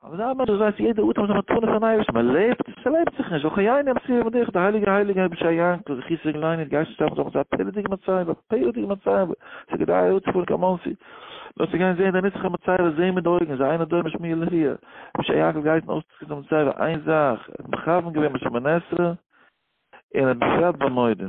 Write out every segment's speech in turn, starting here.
אבער זיי האבן ענדערש ווייסט יעדע אטעם איז א מתנה פון אייבערשטן מען לעבט עס לעבט זיך נישט וכן יעני המסיר יעבדך די הייליגע הייליגע רבי שע יענקל זכי' זאגן ליין איר גייסט שטארבן זאגן זיי א פלא'דיגע מצבה א פלא'דיגע מצבה ס'איז כדאי אהער צו פארן קיין מאנסי נאר צו גיין זעהן די נצח'דיגע מצבה זעהן מיט די אויגן זיי אייינע דור משמי' אלי' רבי שע יענקל גייסן אויסצוקוקן די מצבה איין זאך ער האט מכוון געווען בשמונה עשרה און בפרט במועדים.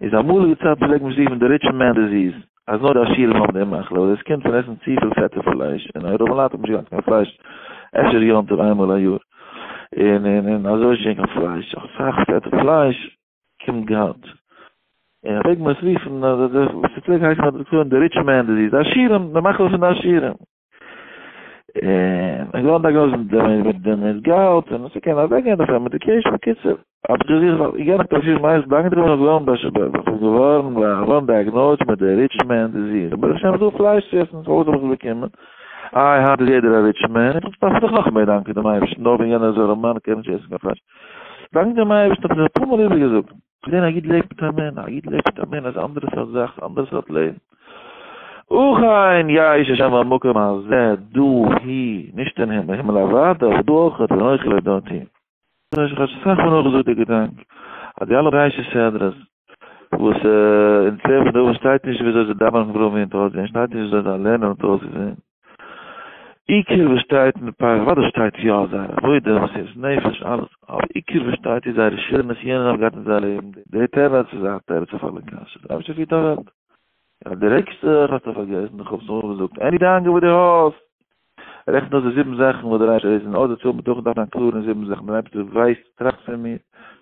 איז א אמאליגע צייט פלעגט מען שריפן די ריטש מען דיזיס אז נאר די עשירים האבן די מחלה אדער עס קומט פון עסן צופיל פעטע פלייש און הרי רוב לייט האבן נישט געהאט קיין פלייש אפשר יום טוב איינמאל א יאר און און און אזוי נישט געווען קיין פלייש אסאך פעטע פלייש קומט געהאט און פלעגט מען עס רופן אז די ס'פלעגט הייסן אז די ריטש מען דיזיס די עשירים די מחלה פון די עשירים. און איך געוואלט דייגנאוזן מיט דעם מיט דעם מיט גאלד און עס קען אוועק גיין דערפון מעדיקעישן בקיצור האב איך געזוכט ווייל איך גיי נאך פארשידענע מייז דאנק דעם רבון באש ב וואס איז געווארן געווארן דייגנאוזט מיט די ריטש מען דיזיס אבער איך שעם זיך פלייש צו עסן סאו וואס האב איך באקומען איי היינט איז יעדער א ריטש מען איך דארף זיך נאך מער דאנקען דעם אייבערשטן נאר וועגן יענער זארעמאן קען נישט עסן קיין פלייש דאנק דעם אייבערשטן האב איך שוין אפאר מאל איבערגעזאגט פלעין א איד לעבט מיט א מין, א איד לעבט מיט א מין אז אנדערע סארט זאך, אנדערע סארט לעבן. וכן יש השם במקום הזה דא הי, נישט אין הימל, הימל אוודאי, אבער דא אויך און אויך לדעתי. דאס איז כאטש אסאך מאל נאכגעזאגט דער געדאנק אז די אלע בראשית סדרה'ס וואס אין צוויי פון די אויבן שטייט נישט וויאזוי זיי דאווענען פון פר' מינוט אויסגעזען, שטייט נישט וויאזוי זיי לערנען האט אויסגעזען. עיקר וואס שטייט אין די פייל, אוודאי שטייט יא זייער עבודה, מסירות נפש, אלעס, אבער עיקר וואס שטייט איז זייערע שירענעס ווי יענער האט געהאט אין זיין לעבן, די טערענס איז א תירוץ אויף אלע קשיות, אייביג שטייט ווי די וועלט. יא די רעגסט זיך, האסטו פארגעסן, איך האב עס נאכאמאל געזאגט, עני דאנגע וואס די האסט, רעכן אויס די זיבן זאכן וואס דער אייבערשטער איז און אויסדערציילן בדוחק דארף זיין קלאר אין זיבן זאכן, דער אייבערשטער ווייסט, טראכט פון מיר,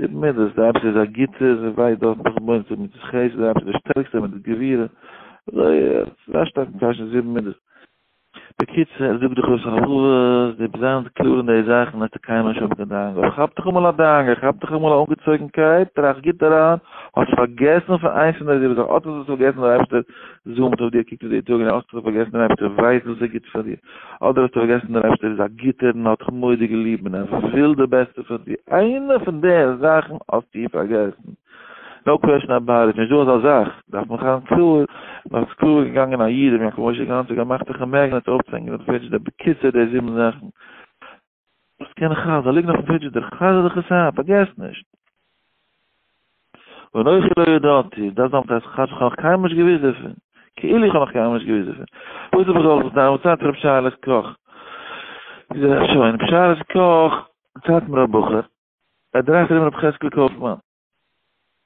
די מידות, די רבי איז א גוטער און ווייט דארט נאך בוים צו מיט די חסד, די רבי איז די שטערקסטע מיט די גבירה, אזוי ס'איז א שטארקן קשיא די זיבן מידות. בקיצור, ער זאגט דאך אויס רחבות, די ביסט זיינס קלאר אין די זאכן האסטו קיינמאל נישט האבן קיין דאגה, אבער כאפ דיך אמאל א דאגה, כאפ דיך אמאל א אנגעצויגנקייט, טראכט גוט אריין, האסט פארגעסן פון איינס פון די זיבן זאכן, אט האסטו עס פארגעסן, דער אייבערשטער זאמט אויף דיר, קוקט אויף דיר טאג און נאכט, האסטו פארגעסן דער אייבערשטער ווייסט וואס איז גוט פאר דיר. אדער האסטו פארגעסן דער אייבשטער איז א גוטער און האט דיך מורא'דיג ליב און ער וויל די בעסטע פאר דיר, איינע פון די זאכן האסטו פארגעסן, נאו קוועשן אבאוט איט, נישט דא אזא זאך, דארף מען זיין קלאר, מען האט עס קלאר געגאנגען א איד ר' יעקב משה גאנצער געמאכט דיך א מעגנעט אויפצוהענגען אויף די פעידזש די בקיצור די זיבן זאכן. וואס קען איך אז זיי ליגן אויפן פרידזשידער, חזר דיך עס איין, פארגעס נישט. און אויך לא ידעתי, דאס דאמפט אז כאטש איך האב נאך קיינמאל נישט געוואוסט דערפון, כאילו איך האב נאך קיינמאל נישט געוואוסט דערפון, וואס האב איך געוואלט זיך דן, וואס צייט רב שיילעס קאך, איז ער שוין, רב שיילעס קאך, צייט מיר א בחור, ער דרייט ארום רב חזקאל קויפמאן.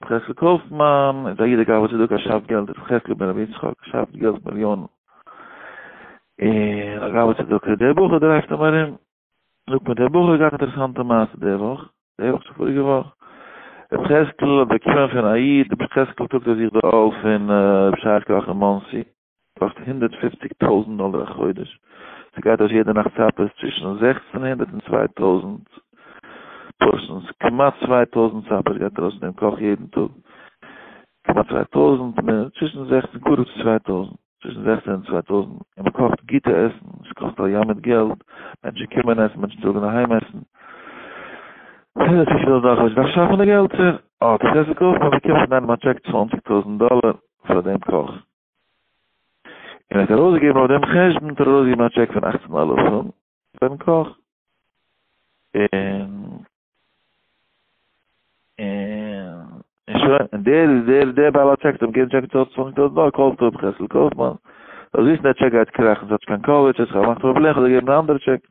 חזקאל קאופמאן איז א איד א גאוה צדקה א שאפט געלט איז חזקאל בן רבי יצחק שאפט געלט מיליאנען און א גאוה צדקה דער בחור דרייווט אים ארום זאגט מיר דער בחור האט געהאט אינטערעסאנטע מעשה די וואך די וואך צו פאריגע וואך רבי חזקאל האט באקומען פון א איד רבי חזקאל טראגט אויף זיך די עול פון רבי שי קאך אין מאנסי קאסט הונדערט פופציג טויזנט דאלער א חודש, ס'גייט אויס יעדע נאכט סאפערס צווישן זעכצן הונדערט און צוויי טויזנט פארשענס, כמעט צוויי טויזנט סאפערס גייט ארויס אין דעם קאך יעדן טאג, כמעט צוויי טויזנט, צווישן זעכצן קרוב צו צוויי טויזנט, צווישן זעכצן און צוויי טויזנט, און מען קאכט גוטע עסן, עס קאסט א ים מיט געלט, מענטשן קומען עסן, מענטשן טראגן אהיים עסן, הונדערט פופציג טויזנט דאלער א חודש, דארף שאפן די געלטער, אה, דאס עסן קויפט מען, באקומט פון איינעם א טשעק צוואנציג טויזנט דאלער, פאר דעם קאך, און ער האט ארויסגעגעבן אויף דעם חשבון האט ער ארויסגעגעבן א טשעק פון אַכצן אלפים פארן קאך, און און שוין, און דער דער דער בעל הטשעק האט אים געגעבן טשעק צו צוואנציג טויזנט דאלער, קאלסט אויב חסל קאופמאן, זאלסט וויסן דער טשעק גייט קראכן, ס'האט נישט קיין קאווערדזש, עס האט געמאכט פראבלעם, כ'וועל דיר געבן א אנדערע טשעק.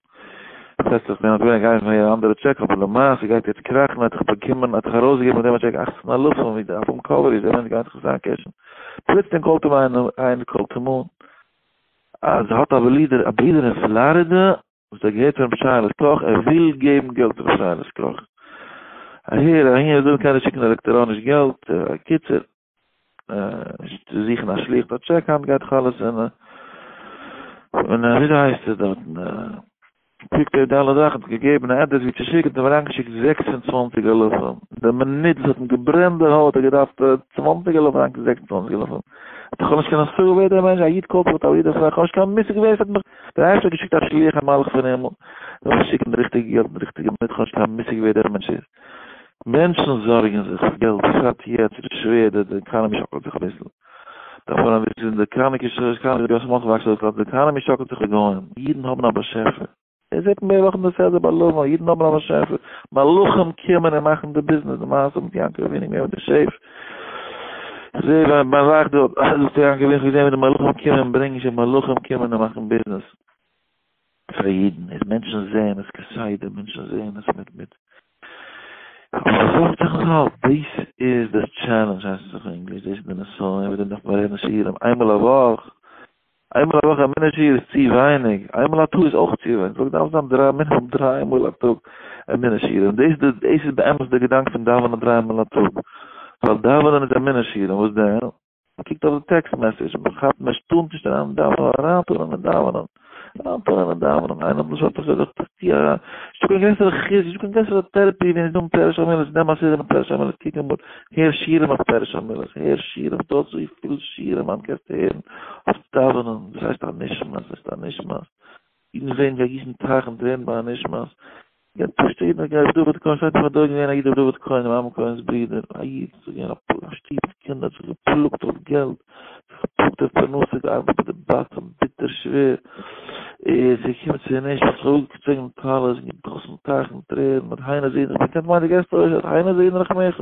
עס הערט זיך מיר אז געווענליך גייען פאר יעדע אנדערע טשעק אבער למעשה גייט יעצט קראכן האט זיך באקומען האט זיך ארויסגעגעבן מיט דעם א טשעק אכצן אלפים ווי די אלבום קאווער איז ערווענט גייען זיך עס איינקעשן פלוצלינג קאלט אים איינער איין קאלט אים אן אז ער האט א בלידער א ברודער אין פלארידע וואס ער געהערט פון רבי שייעלעס קאך ער וויל געבן געלט פאר רבי שייעלעס קאך אהער אהין ער זאל אים קיינער שיקן עלעקטעראניש געלט אקיצער צו זוכן א שליח דארט טשעק היינט גייט חלות אין און ווי דער הייסט עס דארט קוקט ער די אלע זאכן האט געגעבן א עדרעס ווי צו שיקן האט ער אריינגעשיקט זעקס און צוואנציג אלפים די מינוט וואס האט אים געברענט די הויט האט ער געדארפט צוואנציג אלפים אריינגעשיקט זעקס און צוואנציג אלפים האט ער נישט קענען סארא ווער דער מענטש א איד קאלט א איד איך האב נישט קיין מושג ווער עס האט מיך דער הייסט האט געשיקט א שליח א מלאך פון הימל זאל שיקן די ריכטיגע געלט אין די ריכטיגע מינוט איך האב נישט קיין מושג ווער דער מענטש איז מענטשן זארגן זיך פאר געלט בשעת יעצט איז שווער די די עקאנעמי שאקלט זיך אביסל דערפאר און וואס איז די קאנע קשאש קאנע איז גאס מאכט וואקסט דאס לאנד די עקאנעמי שאקלט זיך לגוים אידן האבן א באשעפער ער זעט מער וואכן די סדר ביי לבן אידן האבן א באשעפער מלאכים קומען און מאכן די ביזנעס די מעשה מיט יענקל אבינו געווען מיט די שעף זעה ביי ביי זאך דארט אז דאס יענקל אבינו געזען ווי די מלאכים קומען ברענגן שוין מלאכים קומען און מאכן ביזנעס פאר אידן איז מענטשן זעהן עס כסדר מענטשן זעהן עס מיט מיט אבער זאגט זיך עס האלט דאס איז די טשעלענדזש הייסט עס אויף ענגליש דאס איז די נסיון ווי די נאך מרעדן שיעורים איינמאל א וואך איינמאל א וואך א מינוט שיעור איז צו ווייניג איינמאל א טאג איז אויך צו ווייניג זאגט דארף זיין דריי מינוט דריי מאל א טאג א מינוט שיעורים דאס דאס איז באמת די געדאנק פון דאווענען דריי מאל א טאג ווייל דאווענען איז א מינוט שיעורים וואס דען מ'קוקט אויף די טעקסט מעסעדזש, מ'כאפט נישט, טוה נישט אריין אין דאווענען, אריינטון אין די דאווענען, אריינטון אין די דאווענען, איינער האט מיר שוין אפשר געזאגט, איך טוה אריין, נישטא קיין גרעסערע חסד, נישטא קיין גרעסערע טערעפי ווי נישט דא אין פרש המילות, נעם א סידי מיט פרש המילות, קוק אמאל, הער שירים אויף פרש המילות, הער שירים, ס'דא אזויפיל שירים היינט קענסטו הערן אויף דאווענען, וואס הייסט א נשמת, וואס הייסט א נשמת. אידן ווערן ווי א גיסן טייך און טרערן ביי א נשמת יענער פשוט'ער איד נאך געהייסט דוד כהן שטייט אין פאר דור געווען א איד ר' דוד כהן עמרם כהן'ס ברודער א איד ס'איז געווען א פלא א שטוב מיט קינדער האט זיך געפלאגט אויף געלט זיך געפלאגט אויף פרנסה געארבעט ביי די באקן ביטער שווער איז געקומען צו די נשמת זיך אפגעצויגן די טלית און געגאסן טייכן טרערן האט היינו זעהן רחמך כענט מיינט די געסט אויך האט היינו זעהן רחמך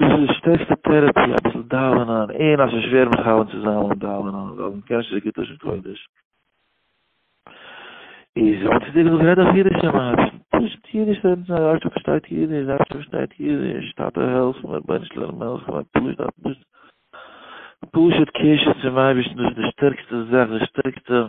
דאס איז די שטערקסטע טערעפי אביסל דאווענען און אז עס שווער מכוון צו זיין אן דאווענען ווייל מען קען נישט אזוי גוט לשון קודש איז האט צו דיר געזאגט רעד אויף אידיש צום אייבערשטן פשוט אידיש רעדן צו א רב שטאט פארשטייט אידיש די אייבערשטער פארשטייט אידיש טאטע העלף מיר רבונו של עולם העלף מיר פשוט א פשוט קשר צום אייבערשטן דאס איז די שטערקסטע זאך די שטערקסטע